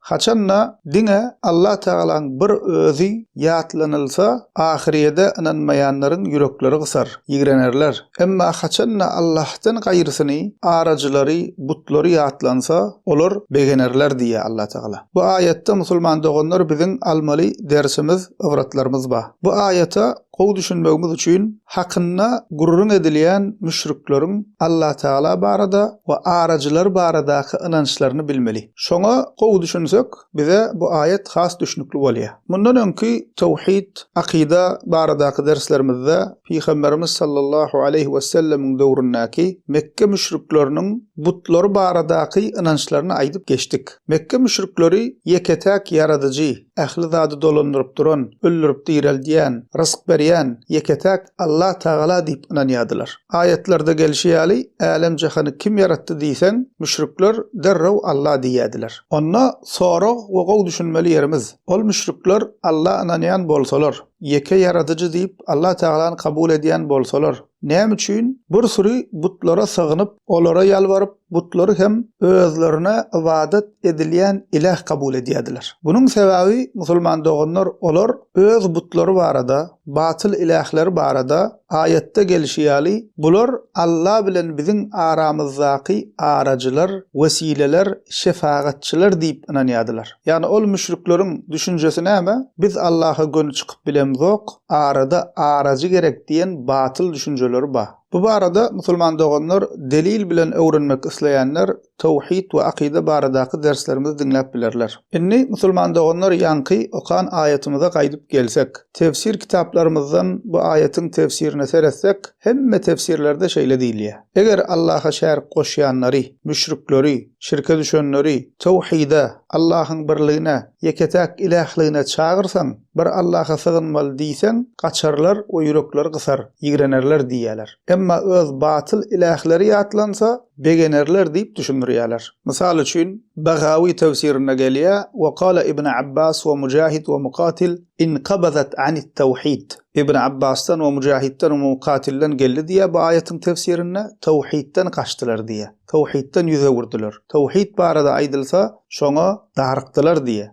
Haçanda diňe Allatagalanyň bir Özi ýatlanylsa, ahyrýede ynanmaýanlaryň ýürekleri gysar, ýigrenerler. Emma haçanda Allahdan gaýrysyny, arajylary, butlary ýatlansa, olar begenerler diýýär Allatagala. Bu aýatda musulman doganlar biziň almaly dersimiz, ybratlarymyz bar. Bu aýata Gowy düşünmegimiz üçin hakynda gürrüň edilýän müşrikleriň Allatagala barada we arajylar baradaky ynançlaryny bilmeli. Şoňa gowy düşünsek, bize bu aýat has düşnükli bolýar. Mundan öňki Tawhid, Akyda, baradaky derslerimizde Pygamberimiz sallallahu aleýhi wesellemiň döwründäki Mekge müşrikleriniň butlary baradaky ynançlaryny aýdyp geçdik. Mekge müşrikleri ýeke-täk Ýaradyjy, ähli zady dolandyryp duran, öldürip direldýän, rysk berýän ýeke-täk Allah Tagala diýip ynanýardylar. Aýatlarda gelşi ýaly, älem-jahany kim ýaratdy diýseň, müşrikler derrew Allah diýýärdiler. Onda sorag we gowy düşünmeli ýerimiz, ol müşrikler Allah ynanýan bolsalar, ýeke ýaradyjy diýip Allah Tagalany kabul edýän bolsalar, näme üçin bir süri butlara sygynyp, Olara ýalbaryp, butlary hem özlerine ybadat edilýän iläh kabul edýärdiler. Munuň sebäbi musulman doganlar olar öz butlary barada, batyl ilähleri barada, aýatda gelşi ýaly, Bular Alla bilen biziň aramyzdaky arajylar, wesileler, şefagatçylar diýip ynanýardylar. Ýagny ol müşrikleriň düşünjesi näme? Biz Allaha göni çykyp bilemzok, arada arajy gerek diýen batyl düşünjeleri ba. Bu barada musulman doganlar delil bilen öwrenmek isleýänler Towhid we akyda baradaky derslerimizi diňläp bilerler. Indi musulman doganlar ýaňky okan aýatymyza gaýdyp gelsek. Tefsir kitaplarymyzdan bu aýatyň tefsirine seretsek hemme tefsirlerde şeýle diýilýär. Eger Allaha şärik goşýanlary, müşrikleri, şirke düşenleri, Towhida, Allahyň birligine, ýeke-täk ilähligine çagyrsaň, Bir Allaha sygynmaly diýseň, gaçarlar we ýürekleri gysar, ýigrenerler diýýärler. Emma öz batyl ilähleri ýatlansa, begenerler diýip düşündirýärler. Mysal üçin, Bagawi tefsirinde gelýär, Wa kala Ibn Abbas wa Mujahid wa Mukatil inkabazat anit-tawhid. Ibn Abbasdan we Mujahitden we Mukatilden geldi diýýär bu aýatyň tefsirinde, Tawhidden gaçdylar diýýär. Tawhidden ýüz öwürdiler. Tawhid barada aýdylsa, şoňa darykdylar diýýär.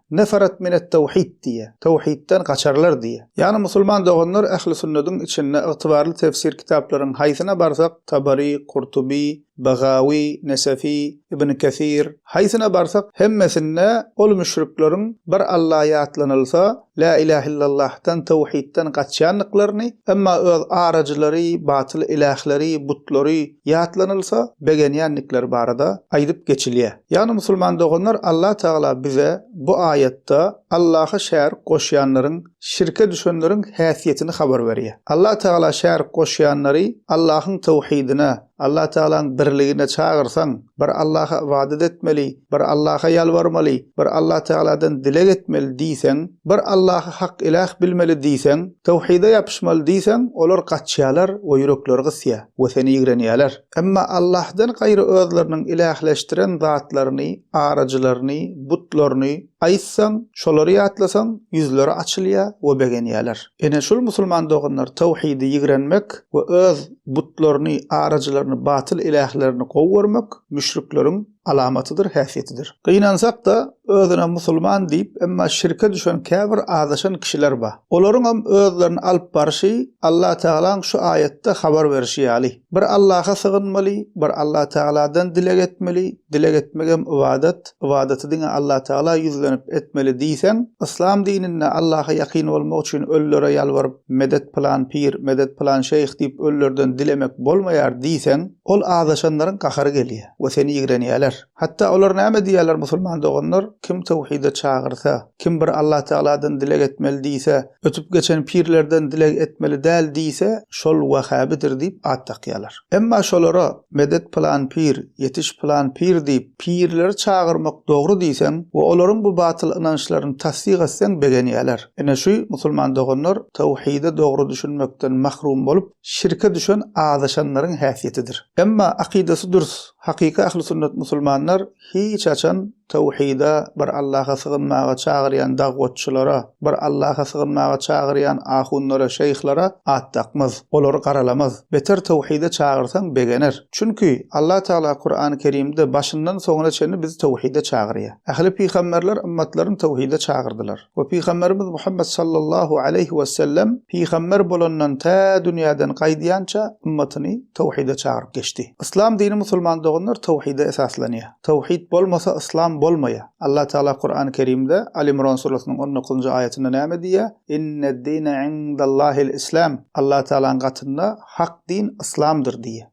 Neferet minet-tewhid diýýär. Tewhidden gaçarlar diýýär. Ýagny musulman doganlar ähli sünnediň içinde ygtybarly tefsir kitaplaryň haýsyna barsak Tabary, Kurtuby, Begawy, Nesefi, Ibn Kesir, haýsyna barsak hemmesinde ol müşrikleriň bir Alla ýatlanylsa La ilah illallahdan tewhidden gaçýandyklaryny emma öz arajylary, batyl ilahleri, butlary, ýatlanylsa, begenýändikleri barada aýdyp geçilýär. Ýagny musulman doganlar Allah Tagala bize bu aýatda Allaha şärik goşýanlaryň, şirke düşenleriň häsiýetini habar berýär. Allah Tagala şärik goşýanlary Allahyň tawhidine, Allah Tagalaň birligine çagyrsaň, bir Allaha ybadat etmeli, Bir Allaha ýalbarmaly, bir Allah Tagaladan dileg etmeli diýseň, bir Allahy hak iläh bilmeli diýseň, towhide ýapyşmaly diýseň, olar gaçýarlar we ýürekleri gysýar we seni ýigrenýärler. Emma Allahdan gaýry özleriniň ilähleşdiren zatlaryny, arajylaryny, butlaryny, aýtsaň, şolary ýatlasaň, ýüzleri açylýar we begenýärler. Ine, şul musulman doganlar towhidi ýigrenmek we öz butlaryny, arajylaryny, batyl ilählerini gowy görmek müşrikleriň alamatydyr, häsiýetidir. Gynansak-da, özüne musulman diýip, emma şirke düşen käbir azaşan kişiler bar. Olaryňam özlerini alyp barşy Allatagalaň şu aýatda habar berşi ýaly, Bir Allaha sygynmaly, bir Allatagaladan dileg etmeli, dileg etmegem ybadat, ybadaty diňe Allatagala ýüzlenip etmeli diýseň, yslam dininde Allaha ýakyn bolmak üçin ölülere ýalbaryp, medet pylan pir, medet pylan şeýh diýip ölülerden dilemek bolmaýar diýseň, Ol azaşanlaryň gahary gelýär we seni ýigrenýärler. Hatda olar näme diýýärler, Musulman doganlar kim töwhide çagyrsa, kim bir Allah Tagaladan dileg etmeli diýse, ötüp geçen pirlerden dileg etmeli däl diýse, şol wahhabidir diýip at dakýarlar. Emma şolara, Medet pylan pir, ýetiş pylan pir diýip, pirleri çagyrmak dogry diýseň we olaryň bu batyl ynançlaryny tassyk etseň begenýärler. Ine şu, musulman doganlar, töwhide dogry düşünmekden mahrum bolup, şirke düşen azaşanlaryň häsiýetidir. Emma akydasy dürs, hakyky ahli sünnet musulmanlar hiç haçan tawhyda, bir Allaha sygynmaga çagyrýan dagwatçylara, bir Allaha sygynmaga çagyrýan ahunlara, şeýhlara at dakmaz, olary garalamaz. Beter tawhyda çagyrsaň begener. Çünki, Allah Tagala Kurany Kerimde başyndan soňuna çenli bizi tawhyda çagyrýar. Ähli pygamberler ymmatlaryny tawhyda çagyrdylar. we Pygamberimiz Muhammet sallallahu aleýhi wesellem pygamber bolandan tä dünýäden gaýdýança ymmatyny towhide çagyryp geçdi. Yslam dini musulman doganlar towhide esaslanýar. Towhid bolmasa yslam bolmaýar. Allah Tagala Kurany Kerimde Al Imron surasynyň on dokuzynjy aýatynda näme diýýär? Inneddine indallahil islam. Allah Tagalaň gatynda hak din yslamdyr diýýär.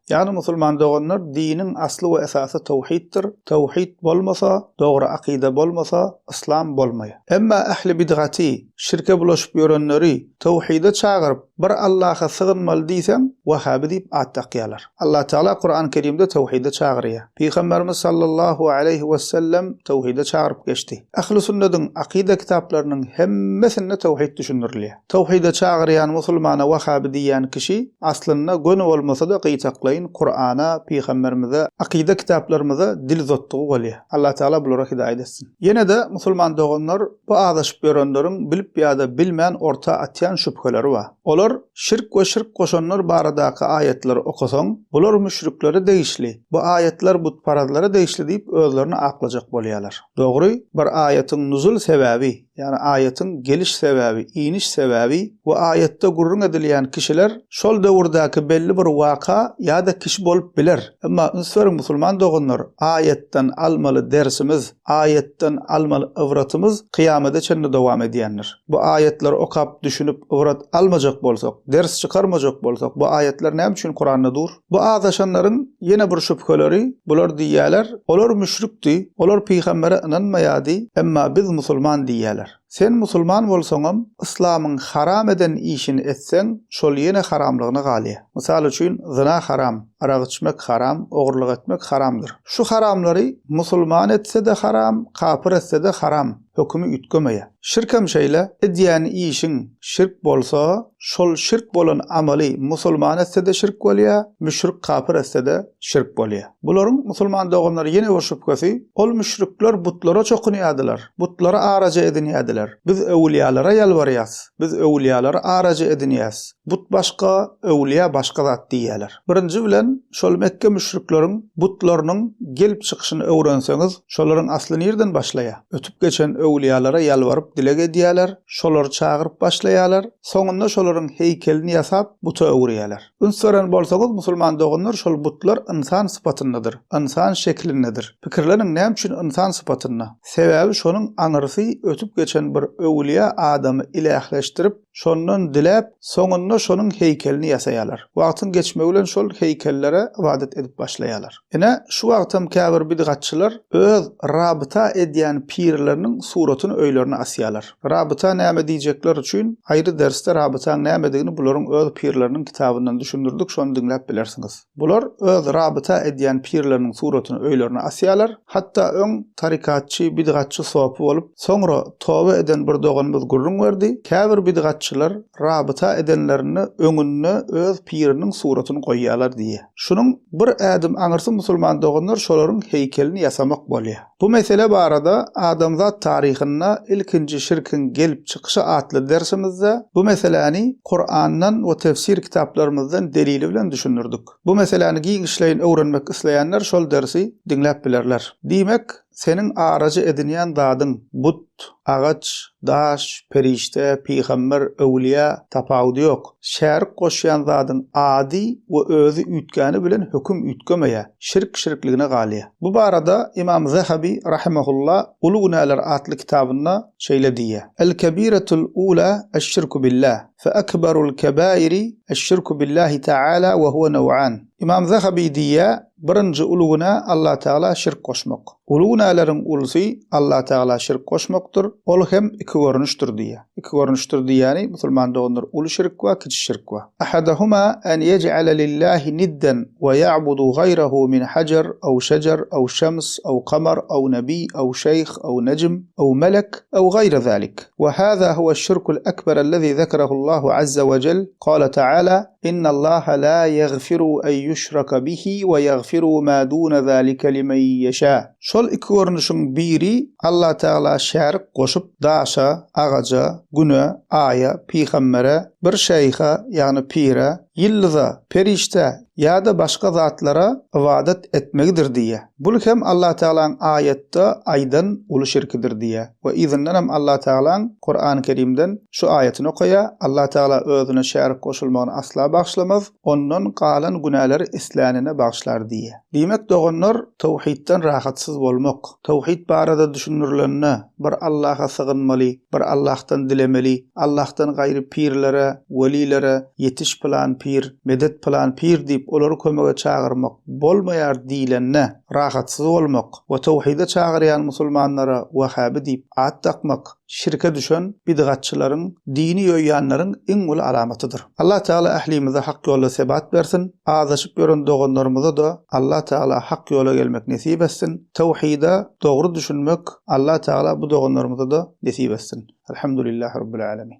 Ýagny musulman doganlar diniň asly we esasy towhiddir, towhid bolmasa, dogry akyda bolmasa, yslam bolmaýar. Emma ähli bidgaty, şirke bulaşyp ýörenleri towhide çagyryp, bir Allaha sygynmaly diýseň, wahabi diýip at dakýarlar. Allah Tagala Kurany Kerimde towhide çagyrýar. Pygamberimiz sallallahu aleýhi wesellem towhide çagyryp geçdi. Ähli sünnediň akyda kitaplarynyň hemmesinde towhid düşündirilýär. Towhide çagyrýan musulmana wahabi diýýän kişi, aslynda göni bolmasa-da gyýtaklaýyn Kurana, pygamberimize, akyda kitaplarymyza dil uzatdygy bolýar. Allatagala bulara hidaýat etsin. Ýene-de musulman doganlar, bu azaşyp ýörenleriň bilip ýa-da bilmän orta atýan şübheleri bar. Olar, şirk we şirk goşanlar baradaky aýatlary okasaň, bular müşriklere degişli, bu aýatlar butparazlara degişli diýip özlerini aklajak bolýarlar. Dogry, bir aýatyň nuzul sebäbi, Ýagny aýatyň geliş sebäbi, iniş sebäbi we aýatda gürrüň edilýän kişiler şol döwürdäki belli bir waka ýa-da kişi bolup biler. Emma üns beriň musulman doganlar, aýatdan almaly dersimiz, aýatdan almaly ybratymyz kyýamada çenli dowam edýändir. Bu aýatlary okap, düşünip, ybrat almajak bolsak, ders çykarmajak bolsak, bu aýatlar näme üçin Kuranda dur? Bu azaşanlaryň ýene bir şübheleri, bular diýýärler, Olar müşrikdi, olar pygambere ynanmaýardy, emma biz musulman diýýärler. Sen musulman bolsaňam, yslamyň haram eden işini etseň, şol ýene haramlygyna galýar. Mysal üçin, zyna haram, arak içmek haram, ogurlyk etmek haramdyr. Şu haramlary musulman etse-de haram, kapyr etse-de haram. hökümi üýtgemeýär. Şirk hem şeýle, edýän işiň şirk bolsa, şol şirk bolan amaly musulman etse-de şirk bolýar, müşrik kapyr etse-de şirk bolýar. Bularyň, musulman doganlar, ýene bir şübhesi, ol müşrikler butlara çokunýardylar, butlary araja edinýärdiler. Biz öwülýalara ýalbarýas, biz öwülýalary araja edinýäs, but başga, öwülýa başga zat diýýärler. Birinji bilen, şol Mekge müşrikleriň butlarynyň gelip çykyşyny öwrenseňiz, şolaryň asly nirden başlaýar? Ötüp geçen öwlüýalara ýalbaryp dileg edýärler, şolary çagyryp başlaýarlar, soňunda şolaryň heýkelini ýasap buta öwürýärler. Üns beren bolsaňyz, musulman doganlar, şol butlar ynsan sypatyndadyr, ynsan şeklindedir. Pikirleniň, näme üçin ynsan sypatynda? Sebäbi şonuň aňyrsy ötüp geçen bir öwlüýä adamy ilähleşdirip, Şondan diläp, soňunda şonuň heýkelini ýasaýarlar. Wagtyň geçmegi bilen şol heýkellere ybadat edip başlaýarlar. Ine, şu wagtam käbir bidgatçylar öz rabyta edýän pirleriniň suratyny öýlerine asýarlar. Rabyta näme diýjekler üçin aýry dersde rabytaň nämedigini bularyň öz pirleriniň kitabyndan düşündirdik, şony diňläp bilersiňiz. Bular öz rabyta edýän pirleriniň suratyny öýlerine asýarlar. Hatda öň tarykatçy, bidgatçy sopy bolup, soňra toba eden bir doganymyz gürrüň berdi, käbir bidgatçylar rabyta edenlerinde öňünde öz piriniň suratyny goýýarlar diýýär. Şunuň bir ädim aňyrsy musulman doganlar şolaryň heýkelini ýasamak bolýar. Bu mesele barada Adamzat taryhynda ilkinji şirkiň gelip çykyşy atly dersimizde bu meseläni Kurandan we tefsir kitaplarymyzdan delili bilen düşündirdik. Bu meseläni giňişleýin öwrenmek isleýänler şol dersi diňläp bilerler. Diýmek, seniň arajy edinýän zadyň, but, ot, agaç, daş, perişde, pygamber, öwlüýä tapawudy ýok. Şärik goşýan zadyň ady we özi üýtgäni bilen höküm üýtgemeýär, şirk şirkligine galýar. Bu barada Ymam Zahabi rahimehullah Uly günäler atly kitabynda şeýle diýýär, El-kebiretul ula eş-şirku billah, fe ekberul kebairi eş-şirku billahi taala we huve naw'an. Ymam Zahaby diýýär, Birinji uly günä Allatagala şirk goşmak. Uly günäleriň ulusy Allatagala şirk goşmakdyr, ol hem iki görnüşdir diýýär. Iki görnüşdir diýýäni, musulman doganlar, uly şirk we kiçi şirk we. Ahadahuma an yej'ale lillahi nidden we ya'budu gaýrahu min hajar aw şejer aw şems aw kamar aw nebi aw şeýh aw nejm aw melek aw gaýra zalik. We hada huwa şirkul ekber allazi zekerahu Allahu azza we cell, Gale taala, Innallaha la ýagfiru en ýuşraka bihi we ýagfiru ma dune zalike limen ýeşâ. Şol iki görnüşiň biri Allah Tagala şärik goşup, daşa, agaja, güne, aýa, pygambere, bir şeýha, ýagny pire, ýyldyza, perişdä ýa-da başga zatlara ybadat etmegidir diýýär. Bul hem Allah Tagalaň aýatda aýdan uly şirkidir diýýä we yzyndan hem Allah Tagalaň Kurany Kerimden şu aýatyny okaýa, Allah Tagala Özüne şärik goşulmagyny asla bagyşlamaz, ondan galan günäleri islänine bagyşlar diýýä. Diýmek doganlar, towhidden rahatsyz bolmak, towhid barada düşündirilende, bir Allaha sygynmaly, bir Allahdan dilemeli, Allahdan gaýry pirlere, welilere, ýetiş pylan pir, medet pylan pir diýip olary kömege çagyrmak, Bolmaýar diýlende, rahatsyz bolmak we towhide çagyrýan musulmanlara wahhabi diýip at dakmak şirke düşen bidgatçylaryň, dini ýoýýanlaryň iň uly alamatydyr. Allah Tagala ählimize hak ýolda sebat bersin, azaşyp ýören doganlarymyza-da Allah Tagala hak ýola gelmek nesip etsin, towhide dogry düşünmek Allah Tagala bu doganlarymyza-da nesip etsin. Elhamdulillah Rabbil Alemin.